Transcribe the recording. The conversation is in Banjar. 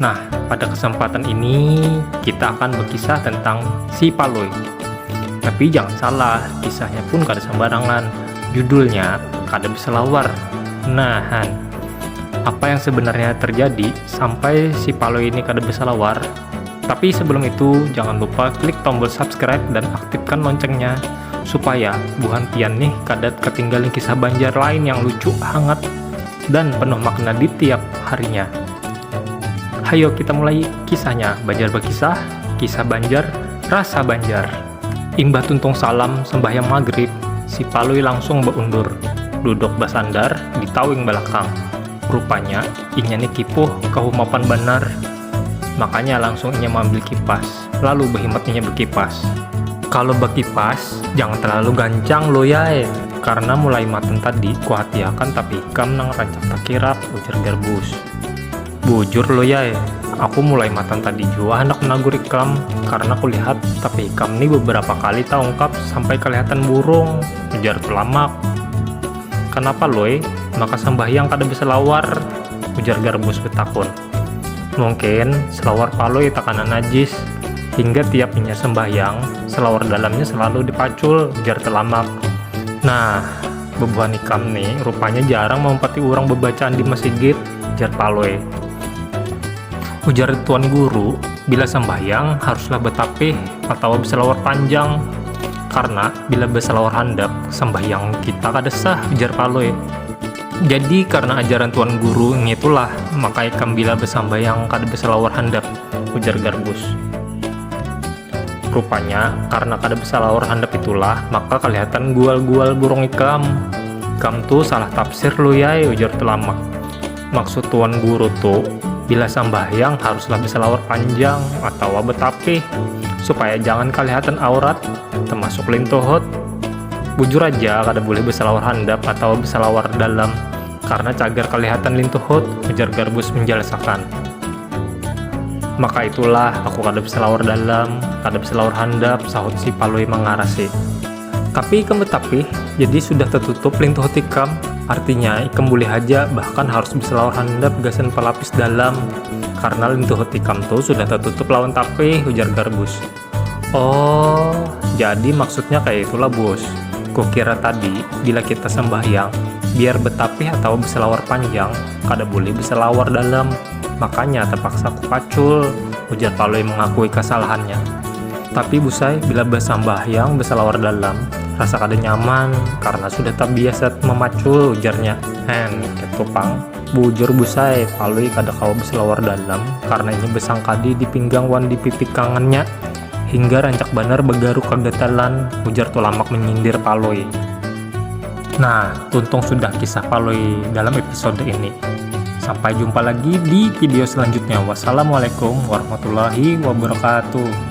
Nah, pada kesempatan ini kita akan berkisah tentang si Palui. Tapi jangan salah, kisahnya pun kada sembarangan. Judulnya kada bisa lawar. Nah, Han, apa yang sebenarnya terjadi sampai si Palui ini kada bisa lawar? Tapi sebelum itu, jangan lupa klik tombol subscribe dan aktifkan loncengnya supaya buhan pian nih kada ketinggalan kisah Banjar lain yang lucu, hangat, dan penuh makna di tiap harinya. Hayo kita mulai kisahnya, Banjar Berkisah, Kisah Banjar, Rasa Banjar. Imbah tuntung salam sembahyang magrib, si Palui langsung beundur, duduk basandar di tawing balakang. Rupanya, inya ni kipuh, kahumapan banar, makanya langsung inya maambil kipas. lalu behematnya bekipas. Kalau bekipas, jangan terlalu gancang lo yae, karena mulai maten tadi kuhatiakan tapi ikam nang rancak takirap, ujar Garbus. Bujur lo yae, aku mulai matan tadi jua hendak menagur ikam, karena kulihat tapi ikam ni beberapa kali taungkap sampai kelihatan burung, ujar Tulamak. Kenapa loe, maka sambahyang kada beselawar? ujar Garbus betakun. Mungkin selawar palui takana najis, hingga tiap inya sembahyang, selawar dalamnya selalu dipacul, jar Telamak. Nah, bebuhan ikam ni rupanya jarang maumpati urang bebacaan di masigit, jar Palui. Ujar Tuan Guru, bila sambahyang haruslah betapih atawa beselawar panjang, karna bila beselawar handap sambahyang kita kada sah, jar Palui. Jadi karena ajaran tuan guru ngitulah maka ikam bila besambayang kada besalawar handap, ujar Garbus. Rupanya karena kada besalawar handap itulah maka kalihatan gual-gual burung ikam. Ikam tu salah tafsir Lui ai, ujar Tulamak. Maksud tuan guru tu bila sambahyang haruslah besalawar panjang atawa betapih supaya jangan kalihatan aurat, termasuk lintuhut. Bujur aja kada bulih besalawar handap atawa besalawar dalam karna cagar kalihatan lintuhut, ujar Garbus menjelasakan. Maka itulah aku kada besalawar dalam, kada besalawar handap, sahut si Palui mangarasi. Tapi ikam betapih, jadi sudah tetutup lintuhut ikam, artinya ikam bulih haja bahkan harus besalawar handap gasan pelapis dalam karna lintuhut ikam tu sudah tetutup lawan tapih, ujar Garbus. Oh, jadi maksudnya kayak itulah bos. Kukira tadi, bila kita sembahyang, biar betapih atawa beselawar panjang, kada boleh beselawar dalam. Makanya terpaksa kupacul, ujar Palui mengakui kesalahannya. Tapi Busai, bila besambahyang beselawar dalam, rasa kada nyaman karena sudah tabiasa memacul, ujarnya. Hen, ketu pang. Bujur Bus ai, Palui kada kawa beselawar dalam karna inya besangkadi di pinggang wan di pipi kangannya hingga rancak banar begaruk kegatalan, ujar Tulamak menyindir Palui. Nah, tuntung sudah kisah Palui dalam episode ini. Sampai jumpa lagi di video selanjutnya. Wassalamualaikum warahmatullahi wabarakatuh.